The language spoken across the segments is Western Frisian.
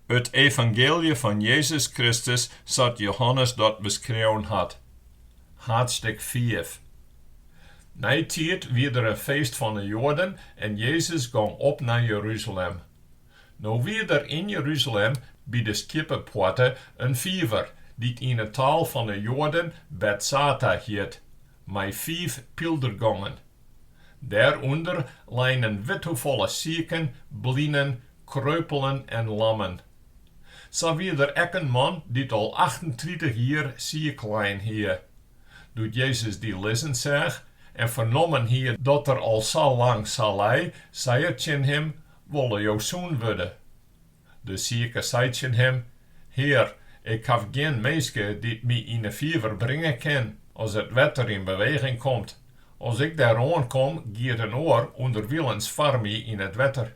It evangeelje fan Jezus Kristus sa't Jehannes dat beskreaun hat. Haadstik fiif. Neitiid wie der in feest fan 'e Joaden en Jezus gong op nei Jerusalem. No wie der yn Jerusalem by de Skjippepoarte in fiver, dy't yn 'e taal fan 'e Joaden Betsata hjit, mei fiif pyldergongen. Dêrûnder lein in withoefolle siken, blinen, kreupelen en lammen. Sa wie der ek in man dy't al achtentritich jier siik lein hie. Doe't Jezus dy lizzen seach en fernommen hie dat er al sa lang sa lei, sei er tsjin him, Wolle jo sûn wurde? De sike sei tsjin him, Hear, ik haw gjin minske dy't my yn 'e fiver bringe kin, as it wetter yn beweging komt. As ik dêr oan kom, giet in oar ûnderwilens foar my yn it wetter.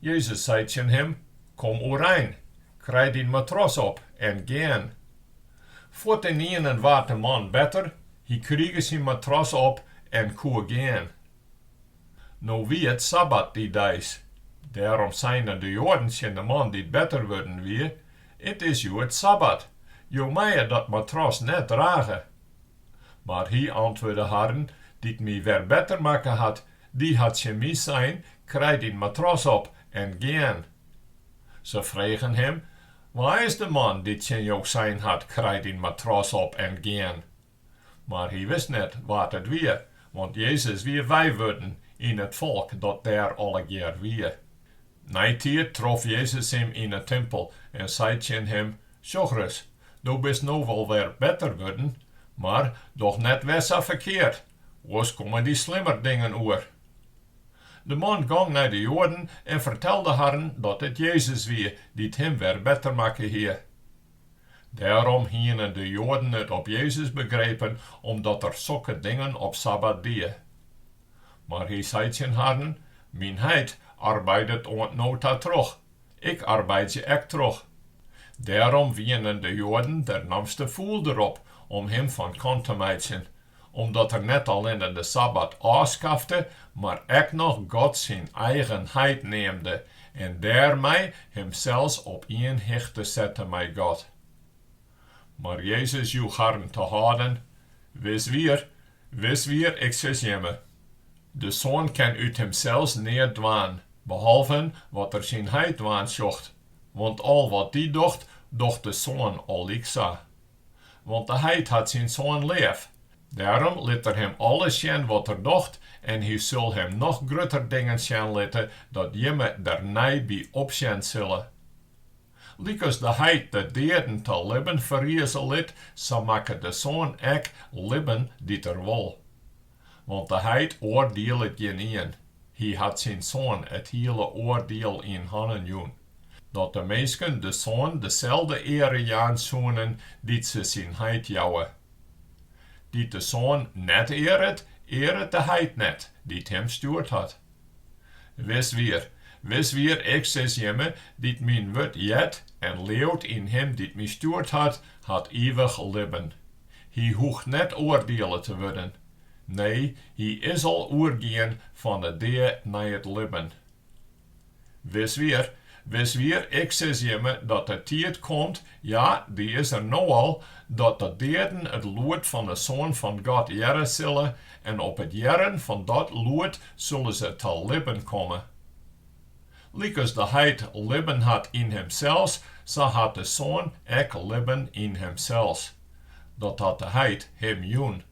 Jezus sei tsjin him, Kom oerein, krij dyn matras op en gean. Fuortenienen waard de man better, hy krige syn matras op en koe gean. No wie it sabbat dy deis. Dêrom seinen de Joaden tsjin de man dy't better wurden wie, It is hjoed sabbat, jo meie dat matras net drage. Mar hy antwurde harren, Dy't my wer better makke hat, dy hat tsjin my sein, Krij dyn matras op en gean. Se fregen him, Wa is de man dy't tsjin jo sein hat, Krij dyn matras op en gean? Mar hy wist net wa't it wie, want Jezus wie wei wurden yn it folk dat dêr allegear wie. Neitiid trof Jezus him yn 'e timpel en sei tsjin him, Sjoch ris, do bist no wol wer better wurden, mar doch net wer sa ferkeard, oars komme dy slimmer dingen oer. De man gong nei de Joaden en fertelde harren dat it Jezus wie dy't him wer better makke hie. Dêrom hienen de Joaden it op Jezus begrepen omdat er sokke dingen op sabbat die. Mar hy sei tsjin harren, Myn Heit arbeidet oant no ta troch, ik arbeidzje ek troch. Dêrom wienen de Joaden dernamste fûl derop om him fan kant te meitsjen, Omdat Er net allinne de sabbat ôfskafte, mar ek noch God syn eigen heit neamde en dêrmei Himsels op ien hichte sette mei God. Mar Jezus joech harren te hâlden, Wis wier, wis wier, Ik sis jimme, De Soan kin út Himsels neat dwaan, behalven wat Er syn heit dwaan sjocht, want al wat Dy docht, docht de Soan allyksa. want de heit hat syn Soan leaf. Dêrom lit er him alles sjen wat er docht, en hy sil him noch grutter dingen sjen litte, dat jimme der nij by opsjen sille. Lykas de heit de deaden ta libben ferrize lit, sa makket de Soan ek libben dy't er wol. want de heit oardielet gjinien, hy hat syn Soan it hiele oardiel yn hannen jûn, dat de minsken de Soan deselde eare jaan soenen dy't se syn heit jouwe. Dy't de Soan net earet, earet de heit net, dy't him stjoerd hat. Wis wier, wis wier, Ik sis jimme, dy't myn wurd heart en leauwt yn him dy't my stjoerd hat, hat ivich libben. Hy hoecht net oardiele te wurden, nee, hy is al oergien fan 'e dea nei it libben. Wis wier, wis wier, ik sis jimme dat de tiid komt, ja, dy is der no al, dat de deaden it lûd fan 'e Soan fan God hearre sille en op it hearren fan dat lûd sille se ta libben komme. Lykas de heit libben hat yn himsels, sa hat de Soan ek libben yn himsels, dat hat de heit him jûn.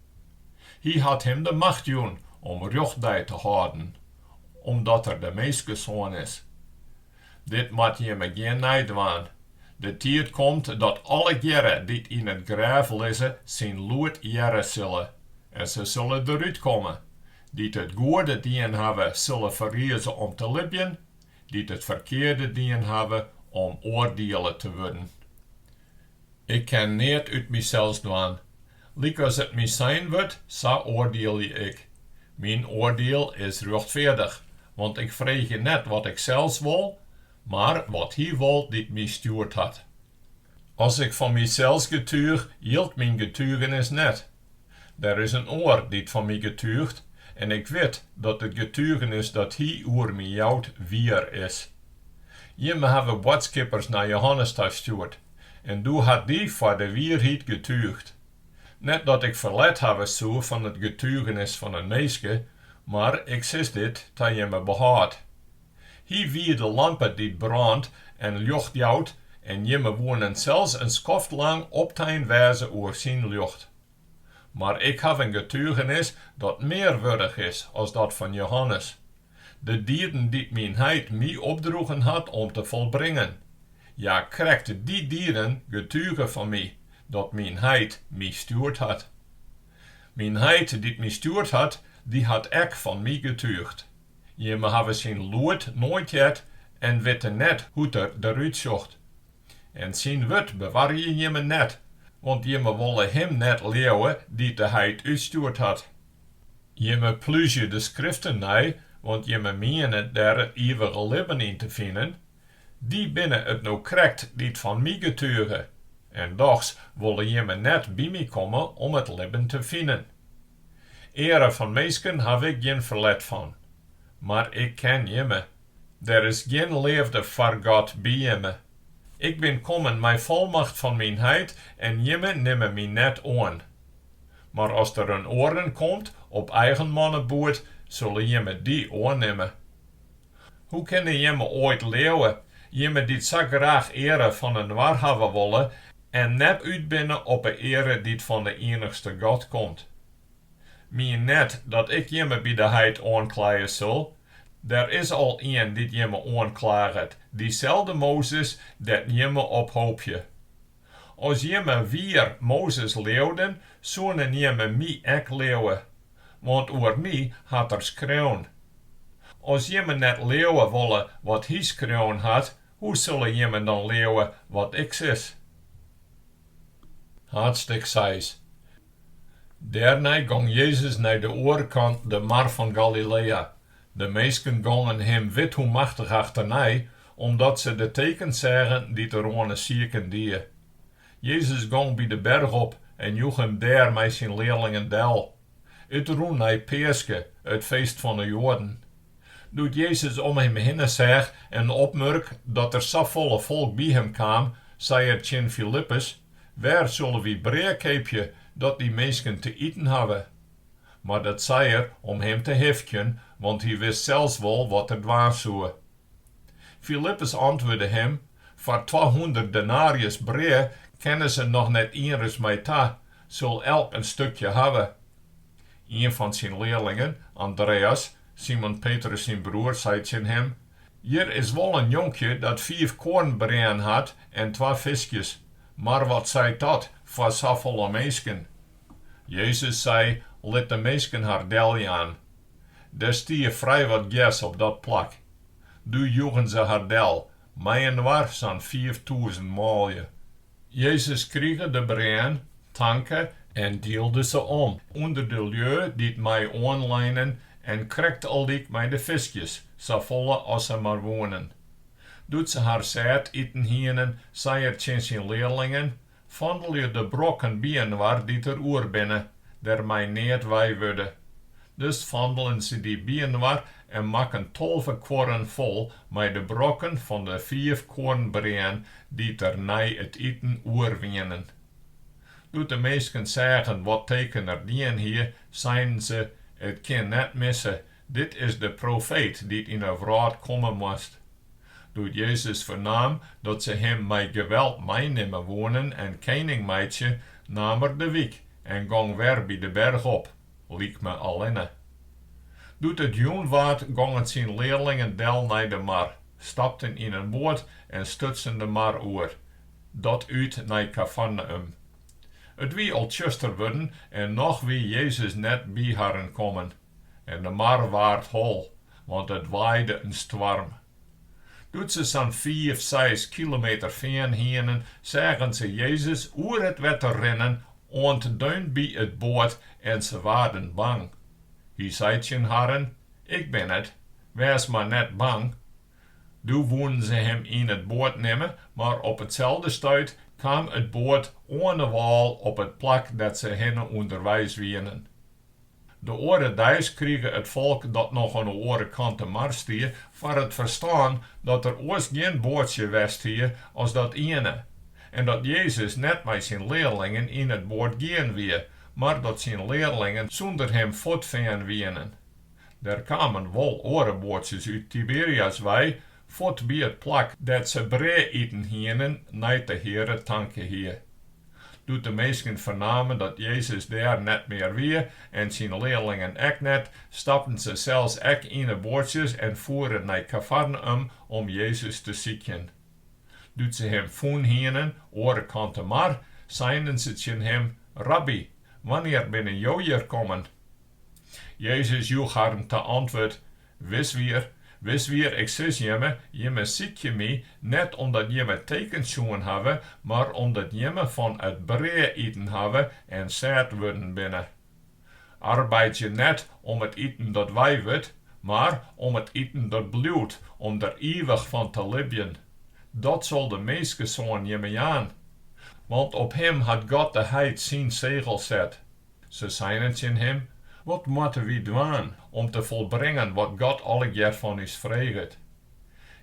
Hy hat him de macht jûn om rjochtdei te hâlden, omdat er de Minskesoan is. Dit moat jimme gjin nij dwaan. De tiid komt dat allegearre dy't yn it grêf lizze syn lûd hearre sille, en se sille derút komme, Dy't it goede dien hawwe, sille ferrize om te libjen, dy't it ferkearde dien hawwe, om oardiele te wurden. Ik kin neat út mysels dwaan. Lykas it my sein wurdt, sa oardielje ik. Myn oardiel is rjochtfeardich, want ik freegje net wat ik sels wol, mar wat Hy wol dy't my stjoerd hat. As ik fan mysels getuich, jildt myn getugenis net. Der is in oar dy't fan my getúcht, en ik wit dat it getugenis dat hy oer my jout wier is. Jimme hawwe boadskippers nei Johannes ta stjoerd, en doe hat dy foar de wierheid getúchd. Net dat ik ferlet hawwe soe fan it getugenis fan in minske, mar ik sis dit ta jimme behâld. Hy wie de lampe dy't brânt en ljocht jout en jimme woenen sels in skoft lang optein wêze oer syn ljocht. Mar ik haw in getugenis dat mear wurdich is as dat fan Johannes, de dieden dy't myn Heit my opdroegen hat om te folbringen, ja, krekt dy dieden getuge fan my, dat myn Heit my stjoerd hat. Myn Heit dy't my stjoerd hat, dy hat ek fan my getúchd. Jimme hawwe syn lûd noait heard en witte net hoe't er der út sjocht. En syn wurd bewarje jimme net, want jimme wolle him net leauwe dy't de heit útstjoerd hat. Jimme plúzje de Skriften nei, want jimme miene dêr it ivige libben yn te finen, Dy binne it no krekt dy't fan my getuge, en dochs wolle jimme net by my komme om it libben te finen. Eare fan minsken haw ik gjin ferlet fan, mar ik ken jimme, der is gjin leafde foar God by jimme. Ik bin kommen mei folmacht fan myn Heit en jimme nimme my net oan. Mar as der in oarenien komt op eigen manneboet, solle jimme dy oannimme. Hoe kinne jimme oait leauwe, jimme dy't sa graach eare fan inoar hawwe wolle en net út binne op 'e eare dy't fan 'e ienichste God komt? Mien net dat ik jimme by de heit oankleie sil, der is al ien dy't jimme oanklaget, dyselde Mozes dêr't jimme op hoopje. As jimme wier Mozes leauwden, soenen jimme my ek leauwe, want oer my hat er skreaun. As jimme net leauwe wolle wat hy skreaun hat, hoe sille jimme dan leauwe wat ik sis? Haadstik seis. Dêrnei gong Jezus nei de oare kant de mar fan Galilea. De minsken gongen him withoemachtich achternei, omdat se de tekens seagen dy't er oan 'e siken die. Jezus gong by de berch op en joech him dêr mei syn learlingen del. It rûn nei Peaske, it feest fan 'e Joaden. Doe't Jezus om him hinne seach en opmurk dat der safolle folk by him kaam, sei er tsjin Filippus, Wêr sille wy brea keapje dat dy minsken te iten hawwe? Mar dat sei er om him te hifkjen, want hy wist sels wol wat er dwaan soe. Filippus antwurde him, Foar twahûndert denarius brea kinne se noch net ienris mei ta, sil elk in stukje hawwe. Ien fan syn learlingen, Andreas, Simon Petrus syn broer, sei tsjin him, Hjir is wol in jonkje dat fiif koarnbreaen hat en twa fiskjes, mar wat seit dat foar safolle minsken? Jezus sei, Lit de minsken har deljaan. Der stie frij wat gjers op dat plak. Doe joegen se har del, mei-inoar sa'n fiiftûzen manlju. Jezus krige de breaen, tanke en dielde se om ûnder de lju dy't mei oanleinen en krekt allyk mei de fiskjes, safolle as se mar woenen. Doe't se har sêd iten hienen, sei er tsjin syn learlingen, Fandelje de brokken byinoar dy't der oer binne, dêr mei neat wei wurde. Dus fandelen se dy byinoar en makken tolve kuorren fol mei de brokken fan de fiif koarnbreaen dy't der nei it iten oer wienen. Doe't de minsken seagen wat teken er dien hie, seinen se, It kin net misse, Dit is de profeet dy't yn 'e wrâld komme moast. Doe't Jezus fernaam dat se him mei geweld meinimme woenen en kening meitsje, naam er de wyk en gong wer by de berch op, lykme allinne. Doe't it jûn waard, gongen syn learlingen del nei de mar, stapten yn in boat en stutsen de mar oer, dat út nei Kafarneüm. It wie al tsjuster wurden en noch wie Jezus net by harren kommen. en de mar waard hol, want it waaide in stoarm. Doe't se sa'n fiif, seis kilometer fearn hienen, seagen se Jezus oer it wetter rinnen oant deun by it boat en se waarden bang. Hy sei tsjin harren, Ik bin it, wês mar net bang. Doe woenen se him yn it boat nimme, mar op itselde stuit kaam it boat oan 'e wâl op it plak dêr't se hinne ûnderweis wienen. De oare deis krige it folk, dat noch oan 'e oare kant de mar stie, foar it ferstân dat der oars gjin boatsje west hie as dat iene, en dat Jezus net mei syn learlingen yn it boat gien wie, mar dat syn learlingen sûnder him fuortfearn wienen. Der kamen wol oare boatsjes út Tiberias wei, Fuort by it plak dêr't se brea iten hienen nei't de Heare tanke hie. Doe't de minsken fernamen dat Jezus dêr net mear wie en syn learlingen ek net, stapten se sels ek yn 'e boatsjes en foeren nei Kafarneüm om Jezus te sykjen. Doe't se him fûn hienen oare kant de mar, seinen se tsjin him, Rabbi, wannear binne jo hjir kommen? Jezus joech harren ta antwurd, Wiswier, Wiswier, ik sis jimme, jimme sykje my, net omdat jimme tekens sjoen hawwe, mar omdat jimme fan it brea iten hawwe en sêd wurden binne. Arbeidzje net om it iten dat wei wurdt, mar om it iten dat bliuwt, om der ivich fan te libjen. Dat sil de Minskesoan jimme jaan. Want op him hat God de Heit syn segel set. Se seinen tsjin him, Wat moatte wy dwaan om te folbringen wat God allegear fan ús freget?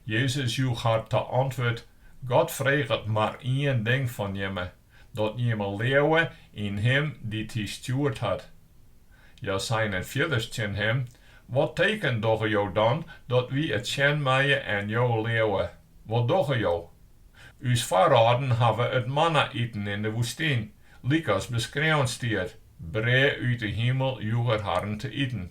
Jezus joech har ta antwurd, God freget mar ien ding fan jimme, dat jimme leauwe yn him dy't hy stjoerd hat. Hja seinen fierders tsjin him, Wat teken dogge jo dan, dat wy it sjen meie en jo leauwe? Wat dogge jo? Us foarâlden hawwe it manna iten yn de woestyn, Lykas beskreaun stiet, Brea út 'e himel joech Er harren te iten.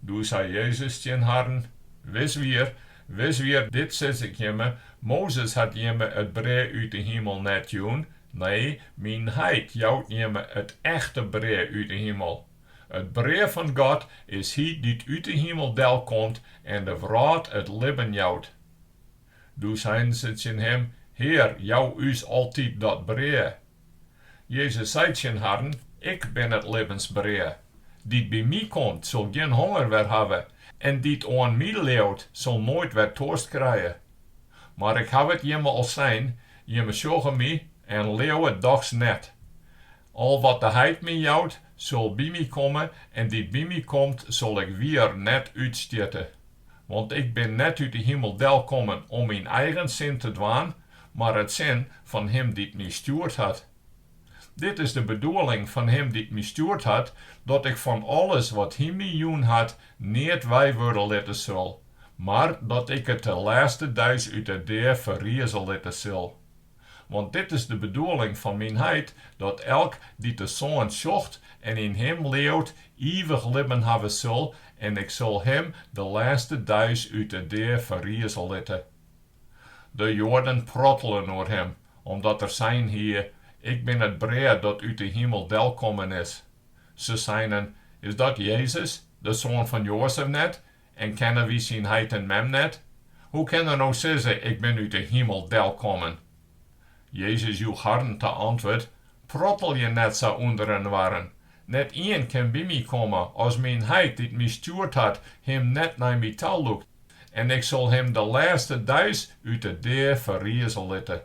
Doe sei Jezus tsjin harren, Wis wier, wis wier, dit sis Ik jimme, Mozes hat jimme it brea út 'e himel net jûn, nee, Myn Heit jout jimme it echte brea út 'e himel. It brea fan God is Hy dy't út 'e himel delkomt en de wrâld it libben jout. Doe seinen se tsjin him, Hear, jou ús altyd dat brea. Jezus sei tsjin harren, Ik bin it libbensbrea. Dy't by my komt, sil gjin honger wer hawwe, en dy't oan my leaut, sil noait wer toarst krije. Mar ik haw it jimme al sein, jimme sjogge my en leauwe dochs net. Al wat de heit my jout, sil by my komme, en dy't by my komt, sil ik wier net útstjitte. Want ik bin net út 'e himel del kommen om myn eigen sin te dwaan, mar it sin fan him dy't my stjoerd hat. Dit is de bedoeling fan him dy't my stjoerd hat, dat ik fan alles wat hy my jûn hat, neat wei wurde litte sil, mar dat ik it de lêste dei út 'e dea ferrize litte sil. Want dit is de bedoeling fan myn heit, dat elk dy't de Soan sjocht en yn him leaut, ivich libben hawwe sil, en ik sil him de lêste dei út 'e dea ferrize litte. De Joaden prottelen oer him, omdat er sein hie, Ik bin it brea dat út 'e himel delkommen is. Se seinen, Is dat Jezus, de soan fan Joazef net? En kenne wy syn heit en mem net? Hoe kin er no sizze, Ik bin út 'e himel delkommen? Jezus joech harren ta antwurd, Prottelje net sa ûnder inoarren. Net ien kin by my komme, as myn heit, dy't my stjoerd hat, him net nei my ta lûkt. En ik sil him de lêste dei út 'e dea ferrize litte.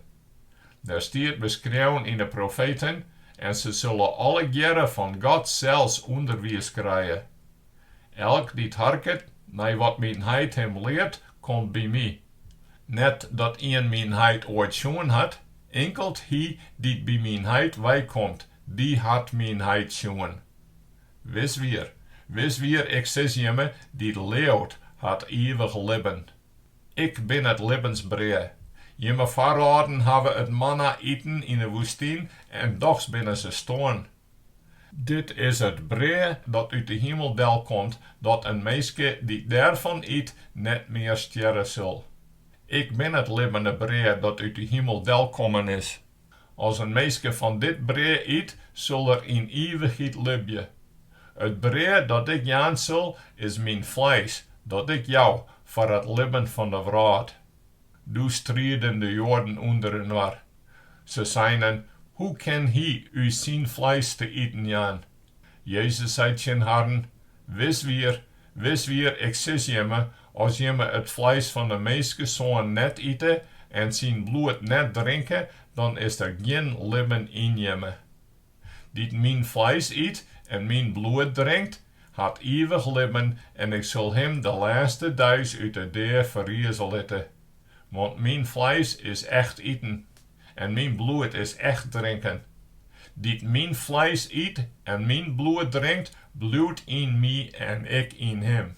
Der stiet beskreaun yn 'e profeten, En se sille allegearre fan God sels ûnderwiis krije. Elk dy't harket nei wat myn heit him leart, komt by my. Net dat ien myn heit oait sjoen hat, inkeld hy dy't by myn heit weikomt, dy hat myn heit sjoen. Wis wier, wis wier, Ik sis jimme, dy't leaut, hat ivich libben. Ik bin it libbensbrea. Jimme foarâlden hawwe it manna iten yn 'e woestyn en dochs binne se stoarn. Dit is it brea dat út de himel delkomt, dat in minske dy't dêrfan yt, net mear stjerre sil. Ik bin it libbene brea dat út de himel delkommen is. As in minske fan dit brea yt, sil er yn ivichheid libje. It brea dat Ik jaan sil, is Myn fleis, dat Ik jou foar it libben fan de wrâld. Doe strieden de Joaden ûnderinoar. Se seinen, Hoe kin hy ús syn fleis te iten jaan? Jezus sei tsjin harren, Wis wier, wis wier, Ik sis jimme, as jimme it fleis fan de Minskesoan net ite en syn bloed net drinke, dan is der gjin libben yn jimme. Dy't myn fleis yt en myn bloed drinkt, hat ivich libben en ik sil him de lêste deis út 'e dea ferrize litte. Want myn fleis is echt iten en myn bloed is echt drinken. Dy't myn fleis yt en myn bloed drinkt, bliuwt yn my en ik yn him.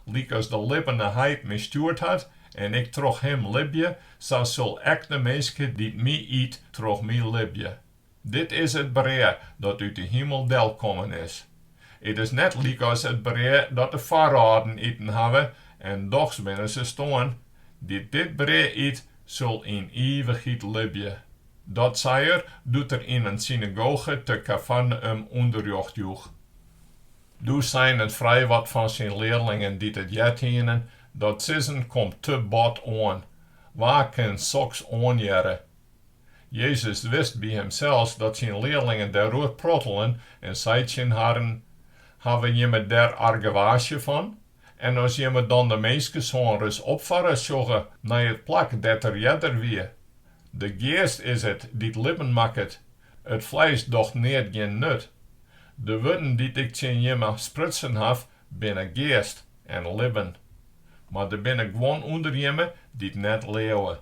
Lykas de libbene heit my stjoerd hat en ik troch him libje, sa sil ek de minske dy't my yt troch my libje. Dit is it brea dat út de himel del kommen is. It is net lykas it brea dat de foarâlden iten hawwe, en dochs binne se stoarn. Dy't dit brea yt, sil yn ivichheid libje. Dat sei er, doe't er yn in synagoge te Kafarneüm ûnderrjocht joech. Doe seinen frijwat fan syn learlingen dy't it heard hienen, Dat sizzen komt te bot oan. Wa kin soks oanhearre? Jezus wist by himsels dat syn learlingen dêroer prottelen en sei tsjin harren, Hawwe jimme dêr argewaasje fan? En as jimme dan de Minskesoan ris opfarre sjogge nei it plak dêr't er earder wie? De geast is it dy't libben makket, it fleis docht neat gjin nut. De wurden dy't ik tsjin jimme sprutsen haw, binne geast en libben. Mar der binne guon ûnder jimme dy't net leauwe.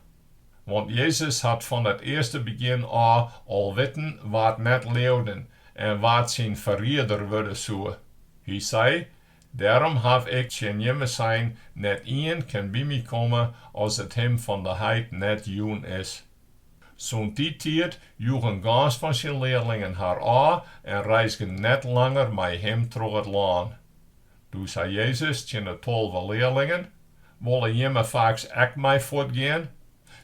Want Jezus hie fan it earste begjin ôf al witten wa't net leauden en wa't syn ferrieder wurde soe. Hy sei, Dêrom haw ik tsjin jimme sein, net ien kin by my komme as it him fan de heit net jûn is. Sûnt dy tiid joegen gâns fan syn learlingen har ôf en reizgen net langer mei him troch it lân. Doe sei Jezus tsjin 'e tolve learlingen, Wolle jimme faaks ek mei fuortgean?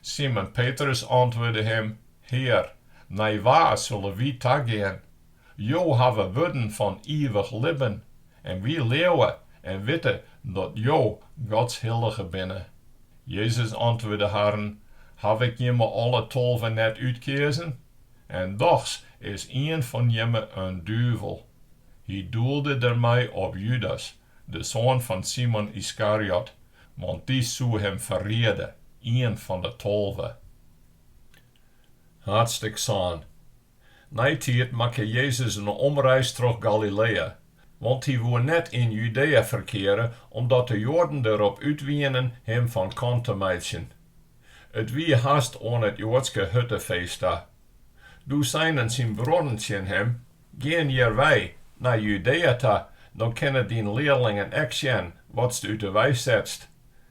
Simon Petrus antwurde him, Hear, nei wa sulle wy tagean? Jo hawwe wurden fan ivich libben, en wy leauwe en witte dat Jo Gods Hillige binne. Jezus antwurde harren, Haw Ik jimme alle tolve net útkeazen? En dochs is ien fan jimme in duvel. Hy doelde dermei op Judas, de soan fan Simon Yskariot, want dy soe him ferriede, ien fan de tolve. Haadstik sân. Neitiid makke Jezus in omreis troch Galilea, want hy woe net yn Judea ferkeare, omdat de Joaden der op út wienen him fan kant te meitsjen. It wie hast oan it Joadske Huttefeest ta. Doe seinen syn bruorren tsjin him, Gean hjir wei, nei Judea ta, dan kinne dyn learlingen ek sjen watst út de wei setst.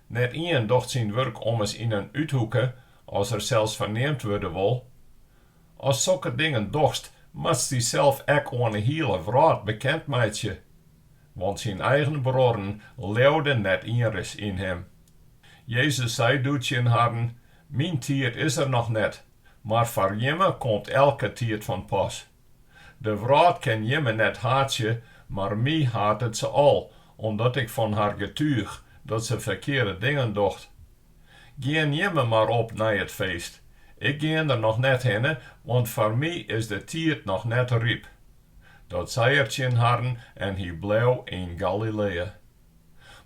Net ien docht syn wurk ommers yn in úthoeke, as er sels ferneamd wurde wol. Ast sokke dingen dochst, moatst dysels ek oan 'e hiele wrâld bekend meitsje. Want syn eigen bruorren leauden net ienris yn him. Jezus sei doe tsjin harren, Myn tiid is der noch net, mar foar jimme komt elke tiid fan pas. De wrâld kin jimme net haatsje, mar my hatet se al, omdat ik fan har getúgje dat se ferkearde dingen docht. Gean jimme mar op nei it feest. Ik gean der noch net hinne, want foar my is de tiid noch net ryp. Dat sei er tsjin harren en hy bleau yn Galilea.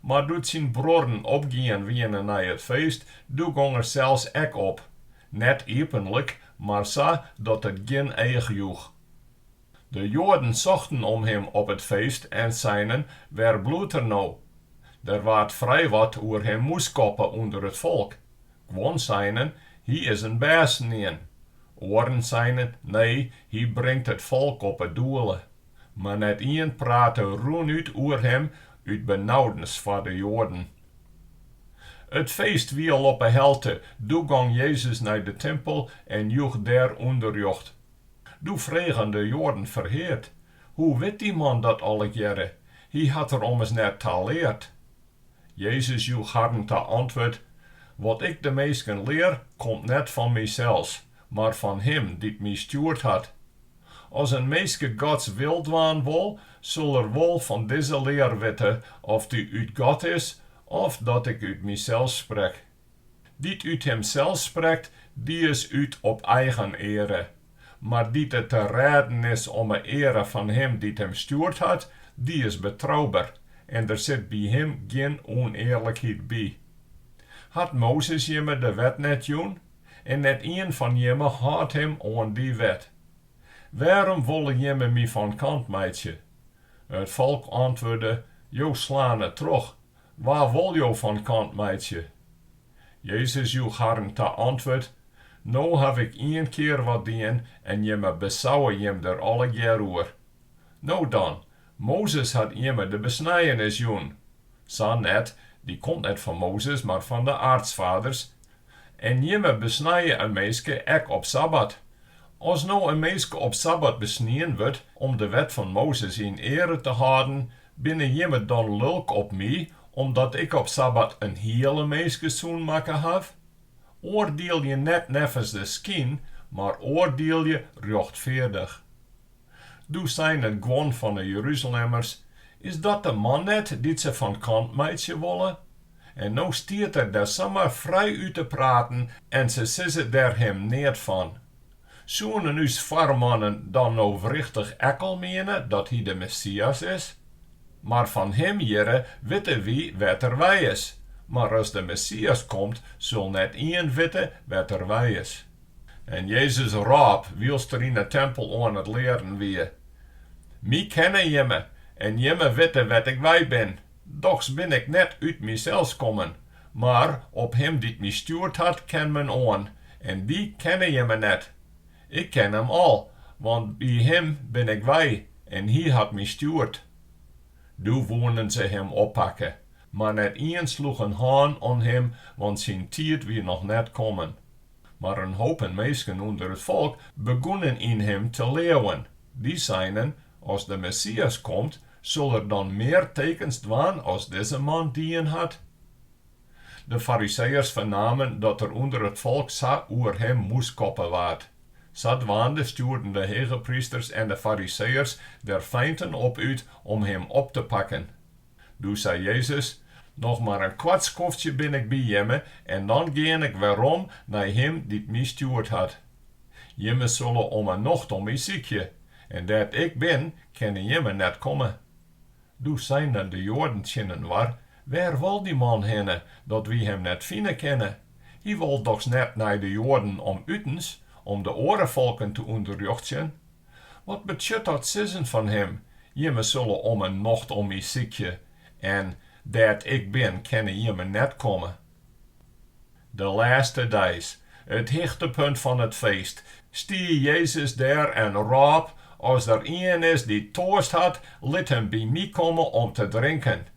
Mar doe't syn bruorren opgien wiene nei it feest, doe gong er sels ek op, net iepenlik, mar sa dat it gjin each joech. De Joaden sochten om him op it feest en seinen, Wêr bliuwt er no? Der waard frij wat oer him mûskoppe ûnder it folk. Guon seinen, Hy is in bêstenien. Oaren seinen, Nee, hy bringt it folk op 'e doele. Mar net ien prate rûnút oer him út benaudens foar de Joaden. It feest wie al op 'e helte, doe gong Jezus nei de timpel en joech dêr ûnderrjocht. Doe fregen de Joaden ferheard, Hoe wit dy man dat allegearre? Hy hat der ommers net ta leard. Jezus joech harren ta antwurd, Wat ik de minsken lear, komt net fan mysels, mar fan Him dy't my stjoerd hat. As in minske Gods wil dwaan wol, sil er wol fan dizze lear witte oft dy út God is, of dat ik út mysels sprek. Dy't út himsels sprekt, dy is út op eigen eare, mar dy't it te rêden is om 'e eare fan Him dy't him stjoerd hat, dy is betrouber, en der sit by him gjin ûnearlikheid by. Hat Mozes jimme de wet net jûn? en net ien fan jimme hâldt him oan dy wet. Wêrom wolle jimme my fan kant meitsje? It folk antwurde, Jo slane troch, wa wol jo fan kant meitsje? Jezus joech harren ta antwurd, No haw ik ien kear wat dien en jimme besauwe jim der allegear oer. No dan, Mozes hat jimme de besnijenis jûn. Sa net, dy komt net fan Mozes, mar fan de aartsfaders, En jimme besnije in minske ek op sabbat. As no in minske op sabbat besnien wurdt om de wet fan Mozes yn eare te hâlden, binne jimme dan lulk op my, omdat ik op sabbat in hiele minske sûn makke haw? Oardielje net neffens de skyn, mar oardielje rjochtfeardich. Doe seinen guon fan 'e Jeruzalemmers, Is dat de man net dy't se fan kant meitsje wolle? En no stiet er dêr samar frijút te praten en se sizze dêr him neat fan. Soenen ús foarmannen dan no wrichtich ek al miene dat hy de Messias is? Mar fan him hjirre witte wy wêr't er wei is, mar as de Messias komt, sil net ien witte wêr't er wei is. En Jezus rôp, wylst er yn 'e tempel oan it learen wie, My kenne jimme, en jimme witte wêr't ik wei bin, dochs bin ik net út mysels kommen, mar op him dy't my stjoerd hat, kin men oan, en dy kenne jimme net. Ik ken him al, want by him bin ik wei, en hy hat my stjoerd. Doe woenen se him oppakke, mar net ien sloech in hân oan him, want syn tiid wie noch net kommen. Mar in hopen minsken ûnder it folk begûnen yn him te leauwen. Dy seinen, As de Messias komt, sil er dan mear tekens dwaan as dizze man dien hat? De Fariseeërs fernamen dat der ûnder it folk sa oer him moeskoppe waard. Sadwaande stjoerden de hegeprysters en de Fariseeërs der feinten op út om him op te pakken. Doe sei Jezus, Noch mar in koart skoftsje bin ik by jimme en dan gean ik werom nei Him dy't my stjoerd hat. Jimme sille om 'e nocht om my sykje, en dêr't ik bin, kinne jimme net komme. Doe seinen de Joaden tsjininoar, Wêr wol dy man hinne, dat wy Him net fine kinne? Hy wol dochs net nei de Joaden om utens, om de oare folken te ûnderrjochtsjen? Wat betsjut dat sizzen fan him, Jimme sulle om 'e nocht om my sykje en dêr't ik bin kinne jimme net komme? De lêste dei, it hichtepunt fan it feest, stie Jezus dêr en rôp, As der ien is dy't toarst hat, lit him by my komme om te drinken.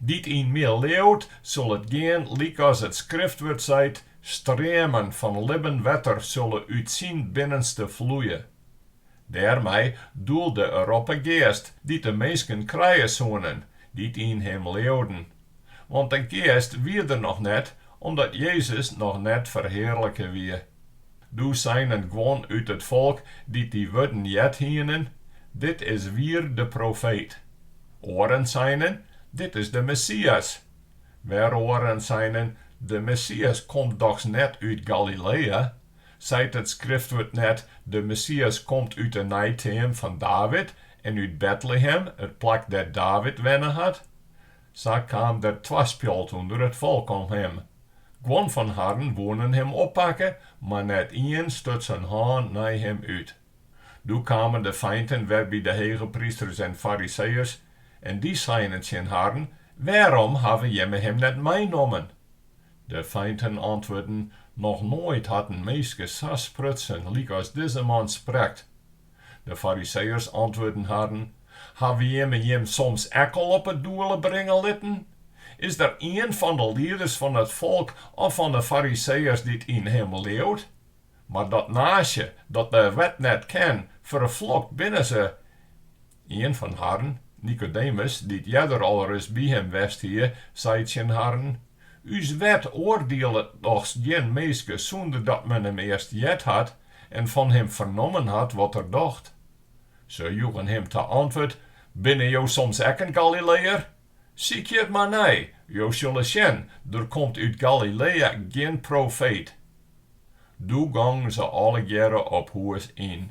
Dy't yn my leauwt, sil it gean lykas it skriftwurd seit, streamen fan libben wetter sille út syn binnenste floeie. Dêrmei doelde er op 'e Geast dy't de minsken krije soenen, dy't yn him leauden. Want de Geast wie der noch net, omdat Jezus noch net ferhearlike wie. Doe seinen guon út it folk dy't dy wurden heard hienen, Dit is wier de profeet. Oaren seinen, Dit is de Messias. Wer oaren seinen, De Messias komt dochs net út Galilea? Seit it Skriftwurd net, De Messias komt út 'e neiteam fan David en út Betlehem, it plak dêr't David wenne hat? Sa kaam der twaspjalt ûnder it folk om him. Guon fan harren woenen him oppakke, mar net ien stut syn hân nei him út. Doe kamen de feinten wer by de hegeprysters en fariseeërs, en dy seinen tsjin harren, Wêrom hawwe jimme him net meinommen? De feinten antwurden, Noch noait hat in minske sa sprutsen lykas dizze man sprekt. De Fariseeërs antwurden harren, Hawwe jimme jim soms ek al op 'e doele bringe litten? Is der ien fan de lieders fan it folk of fan 'e Fariseeërs dy't yn him leauwt? Mar dat naasje, dat de wet net ken, ferflokt binne se. Ien fan harren, Nikodemus, dy't earder al ris by him west hie, sei tsjin harren, Us wet oardielet dochs gjin minske sûnder dat men him earst heard hat, en fan him fernommen hat wat er docht. Se joegen him ta antwurd, Binne jo soms ek in Galileër? Sykje it mar nei, jo sille sjen, der komt út Galilea gjin profeet. Doe gongen se allegearre op hûs yn.